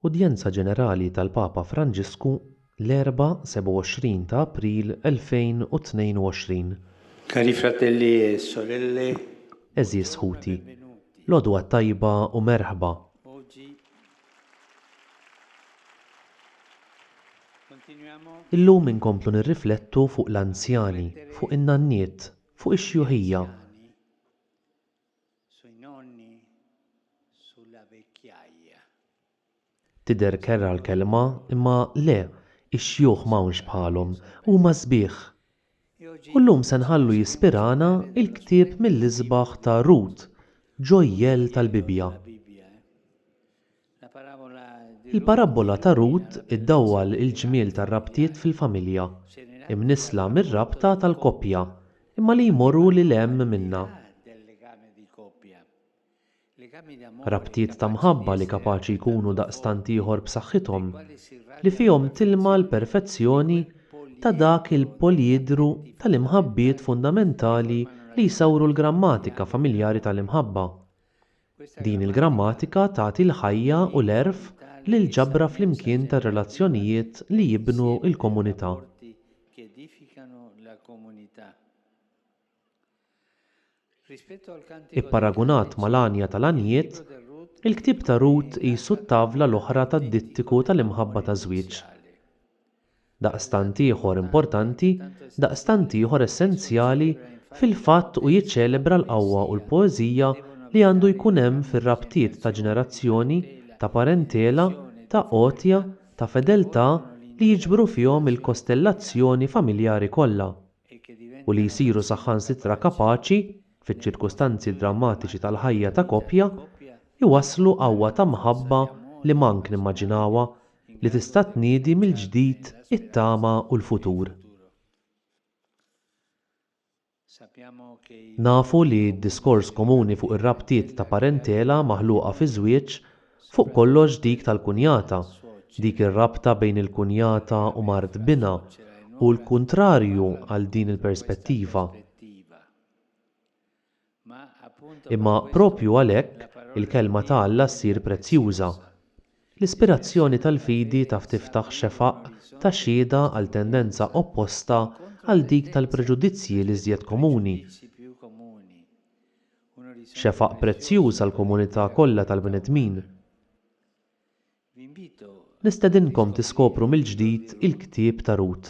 Udjenza Ġenerali tal-Papa Franġisku l-Erbgħa 27 ta' April 2022. Cari fratelli e sorelle. Għeżież ħuti, l-għodwa t-tajba u merħba. Illum inkomplu nirriflettu fuq l-anzjani, fuq in-nanniet, fuq ix-xjuħija. Sui nonni, sulla vecchiaia. Tidher kerha l-kelma, imma le, ix-xjuħ m'hawnx bħalhom, huma sbieħ! U llum se nħallu jispirana l-ktieb mill-isbaħ ta' Rut, ġojjell tal-Bibbja. Il-parabbola ta' Rut iddawwal il-ġmiel tar-rabtiet fil-familja, imnissla mir-rabta tal-koppja, imma li jmorru lil hemm minnha. Rabtiet ta' mħabba li kapaċi jkunu daqstant ieħor b'saħħithom, li fihom tilma' l-perfezzjoni ta' dak il-poliedru tal-imħabbiet fundamentali li jsawru l-grammatika familjari tal-imħabba. Din il-grammatika tagħti l-ħajja u l-għerf lill-ġabra flimkien tar-relazzjonijiet li jibnu l-komunità. Ipparagunat mal-għanja tal-għanjiet, il-ktieb ta' Rut qisu t-tavla l-oħra tad-dittiku tal-imħabba taż-żwieġ. daqstant ieħor importanti, daqstant ieħor essenzjali, fil-fatt u jiċċelebra l-qawwa u l-poeżija li għandu jkun hemm fir-rabtiet ta' ġenerazzjoni, ta' parentela, ta' għotja, ta' fedeltà li jiġbru fihom il-kostellazzjoni familjari kollha u li jsiru saħħansitra kapaċi, fiċ-ċirkustanzi drammatiċi tal-ħajja ta' koppja, iwasslu qawwa ta' mħabba li mank nimmaġinawha li tista' tniedi mill-ġdid it-tama u l-futur. Nafu li d-diskors komuni fuq ir-rabtiet ta' parentela maħluqa fiż-żwieġ, fuq kollox dik tal-kunjata, dik ir-rabta bejn il-kunjata u mart binha, hu l-kuntrarju għal din il-perspettiva. Imma proprju għalhekk il-Kelma ta' Alla ssir prezzjuża. L-ispirazzjoni tal-fidi taf tiftaħ xefaq ta' xhieda għal tendenza opposta għal dik tal-preġudizzji l-iżjed komuni, xefaq prezzjuż għall-komunità kollha tal-bnedmin. Nistedinkom tiskopru mill-ġdid il-ktieb ta' Rut,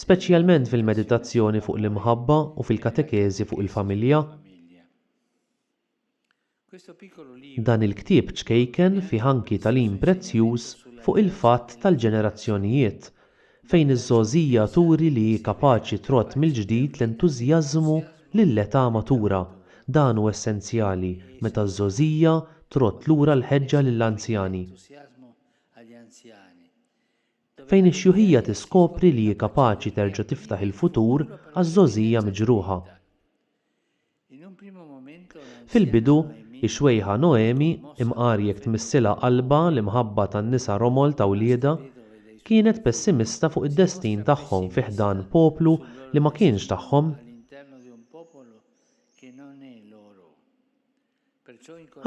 speċjalment fil-meditazzjoni fuq l-imħabba u fil-katekeżi fuq il-familja. Dan il-ktieb ċkejken fih anki tagħlim prezzjuż fuq il-fatt tal-ġenerazzjonijiet fejn iż-żgħożija turi li hi kapaċi trodd mill-ġdid l-entużjażmu lill-età matura. Dan hu essenzjali meta ż-żgħożija trodd lura l-ħeġġa lill-anzjani. Fejn ix-xjuħija tiskopri li hi kapaċi terġa' tiftaħ il-futur għaż-żgħożija miġruħa. Fil-bidu, ix-xwejħa Noemi, imqar jekk tmissilha qalbha l-imħabba tan-nisa romol ta' wliedha, kienet pessimista fuq id-destin tagħhom fi ħdan poplu li ma kienx tagħhom.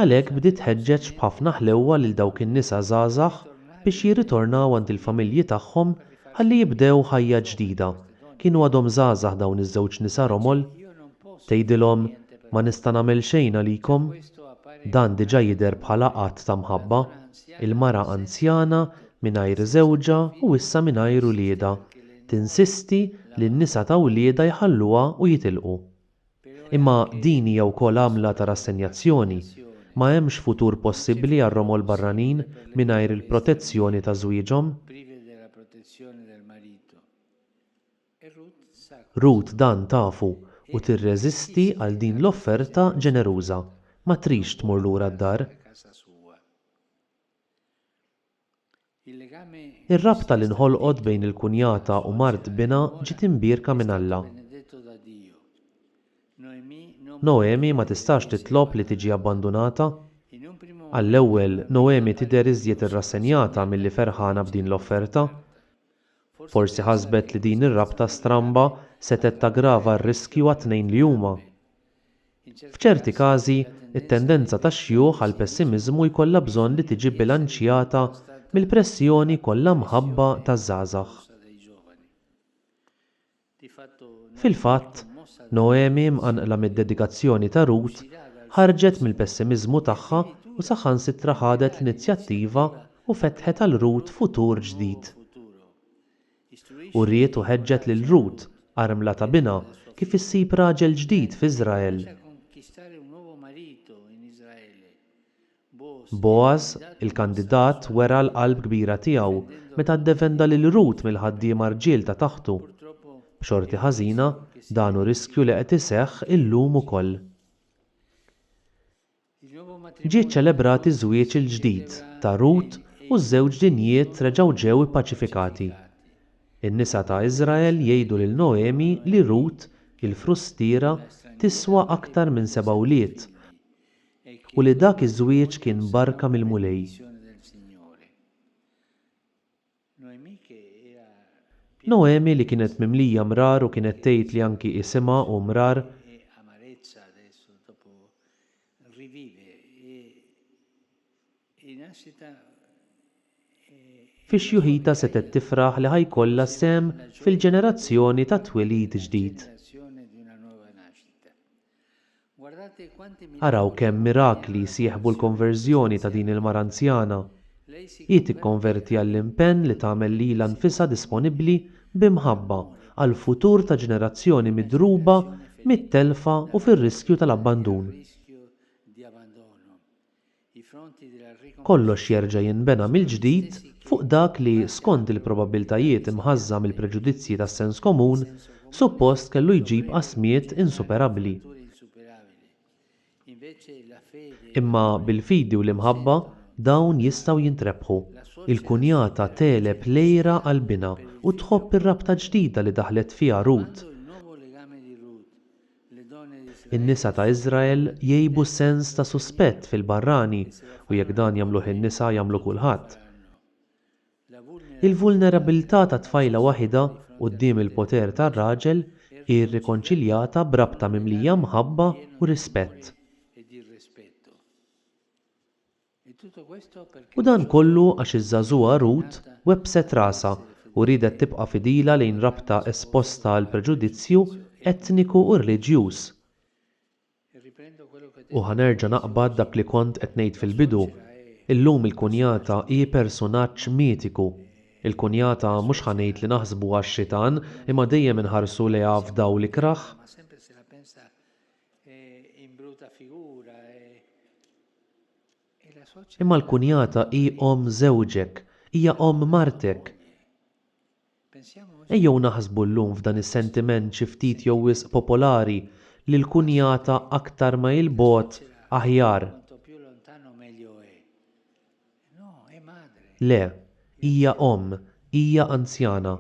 Għalhekk bdiet tħeġġeġ b'ħafna ħlewwa lil dawk in-nisa żgħażagħ biex jirritornaw għand il-familji tagħhom ħalli jibdew ħajja ġdida. Kienu għadhom żgħażagħ dawn iż-żewġ nisa romol. Tgħidilhom, Ma nista' nagħmel xejn għalikom. Dan diġà jidher bħala att ta' mħabba. Il-mara anzjana, mingħajr żewġha u issa mingħajr uliedha, tinsisti li n-nisa ta' wliedha jħalluha u jitilqu. Imma din hija wkoll għamla ta' rassenjazzjoni. Ma hemmx futur possibbli għar-romol barranin mingħajr il-protezzjoni ta' żwieġhom. Ruth dan tafu u tirreżisti għal din l-offerta ġeneruża. Ma tridx tmur lura d-dar. Ir-rabta li nħolqot bejn il-kunjata u mart binha ġiet imbierka minn Alla. Noemi ma tistax titlob li tiġi abbandunata. Għall-ewwel, Noemi tidher iżjed irrassenjata milli ferħana b'din l-offerta. Forsi ħasbet li din ir-rabta stramba setgħet taggrava r-riskju għat-tnejn li huma. F'ċerti każi, it-tendenza tax-xjuħ għall-pessimiżmu jkollha bżonn li tiġi bbilanċjata mill-pressjoni kollha mħabba taż-żgħażagħ. Fil-fatt, Noemi, mqanqla mid-dedikazzjoni ta' Rut, ħarġet mill-pessimiżmu tagħha u saħansitra ħadet l-inizjattiva u fetħet għal Rut futur ġdid. U ried u ħeġġet lil Rut, armla ta' binha, kif issib raġel ġdid f'Iżrael. Bogħaż, il-kandidat, wera l-qalb kbira tiegħu meta ddefenda lil Rut mill-ħaddiema rġiel ta' taħtu. B'xorti ħażina, dan hu riskju li qed iseħħ illum ukoll. Ġie ċċelebrat iż-żwieġ il-ġdid ta' Rut u ż-żewġ dinjiet reġgħu ġew ippaċifikati. In-nisa ta' Iżrael jgħidu lil Noemi li Rut, il-frustiera, tiswa aktar minn seba' wlied u li dak iż-żwieġ kien barka mill-Mulej. Noemi li kienet mimlija mrar u kienet tgħid li anki isimha hu mrar, fi xjuħitha setgħet tifraħ li ħa jkollha sehem fil-ġenerazzjoni tat-twelid ġdid. Araw kemm mirakli jsieħbu l-konverżjoni ta' din il-mara anzjana. Hi tikkonverti għall-impenn li tagħmel lilha nfisha disponibbli bi mħabba għall-futur ta' ġenerazzjoni midruba mit-telfa u fir-riskju tal-abbandun. kollox jerġa' jinbena mill-ġdid fuq dak li, skond il-probabbiltajiet imħażża mill-preġudizzji tas-sens komun, suppost kellu jġib qasmiet insuperabbli. Imma bil-fidi u l-imħabba dawn jistgħu jintrebħu. Il-kunjata tegħleb l-għira għall-binha u tħobb ir-rabta ġdida li daħlet fiha Ruth. In-nisa ta' Iżrael jgħibu sens ta' suspett fil-barrani u jekk dan jagħmluh in-nisa jagħmlu kulħadd. Il-vulnerabbiltà ta' tfajla waħidha quddiem il-poter tar-raġel hi rrikonċiljata b'rabta mimlija mħabba u rispett. U dan kollu għax iż-żagħżugħa Ruth webbset rasha u riedet tibqa' fidila lejn rabta esposta għal preġudizzju etniku u reliġjuż. U ħa nerġa' naqbad dak li kont qed ngħid fil-bidu, illum il-kunjata hi persunaġġ mitiku. Il-kunjata mhux ħa ngħid li naħsbuha x-xitan imma dejjem inħarsu lejha f'dawl ikrah. Imma l-kunjata hi omm żewġek, hija omm martek. Ejjew naħsbu llum f'dan is-sentiment xi ftit jew wisq popolari li l-kunjata aktar ma 'il bogħod aħjar. Le, hija omm, hija anzjana.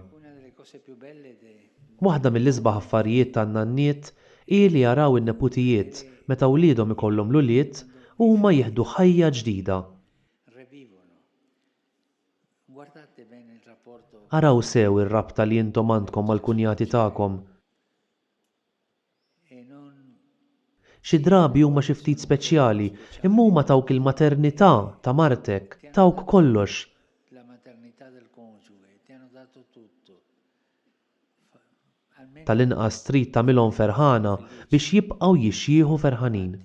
Waħda mill-isbaħ affarijiet tan-nanniet hi li jaraw in-neputijiet meta wliedhom ikollhom l-ulied u huma jieħdu ħajja ġdida. Araw sew ir-rabta li intom għandkom mal-kunjati tagħkom. Xi drabi huma xi ftit speċjali, imma huma tawk il-maternità ta' martek, tawk kollox. Tal-inqas trid tagħmilhom ferħana biex jibqgħu jixjieħu ferħanin.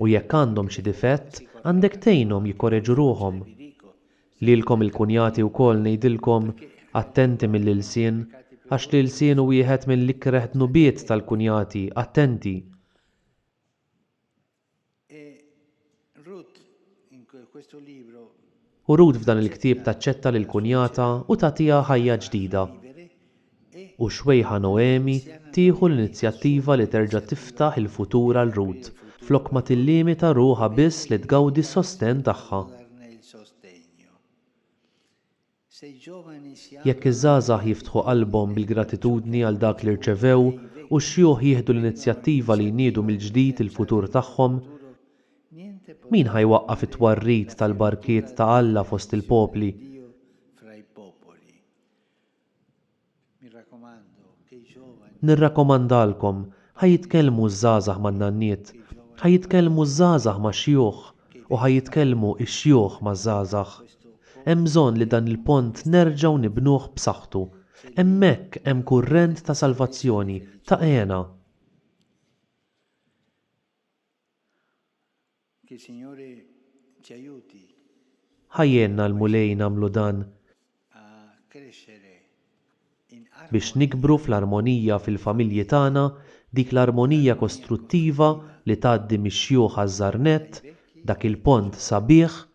U jekk għandhom xi difett, għandek tgħinhom jikkoreġu ruħhom. Lilkom il-kunjati wkoll ngħidilkom, attenti mill-ilsien, għax l-ilsien hu wieħed mill-ikreh dnubiet tal-kunjati, attenti! U Rut f'dan il-ktieb taċċetta lil kunjatha u tagħtiha ħajja ġdida. U xwejħa Noemi tieħu l-inizjattiva li terġa' tiftaħ il-futur għal Rut, flok ma tillimita ruħha biss li tgawdi s-sostenn tagħha. Jekk iż-żgħażagħ jiftħu qalbhom bil-gratitudni għal dak li rċevew u x-xjuħ jieħdu l-inizjattiva li jniedu mill-ġdid il-futur tagħhom, Min ħa jwaqqaf it-twarrid tal-barkiet ta' Alla fost il-popli? Nirrakkomandalkom, ħa jitkellmu ż-żgħażagħ man-nanniet, ħa jitkellmu ż-żgħażagħ max-xjuħ, u ħa jitkellmu x-xjuħ maż-żgħażagħ. Hemm bżonn li dan il-pont nerġgħu nibnuh b'saħħtu. Hemmhekk hemm kurrent ta' salvazzjoni, ta' hena. Ħa jgħinna l-Mulej nagħmlu dan, biex nikbru fl-armonija fil-familji tagħna, dik l-armonija kostruttiva li tgħaddi mix-xjuħ għaż-żgħar nett, dak il-pont sabiħ,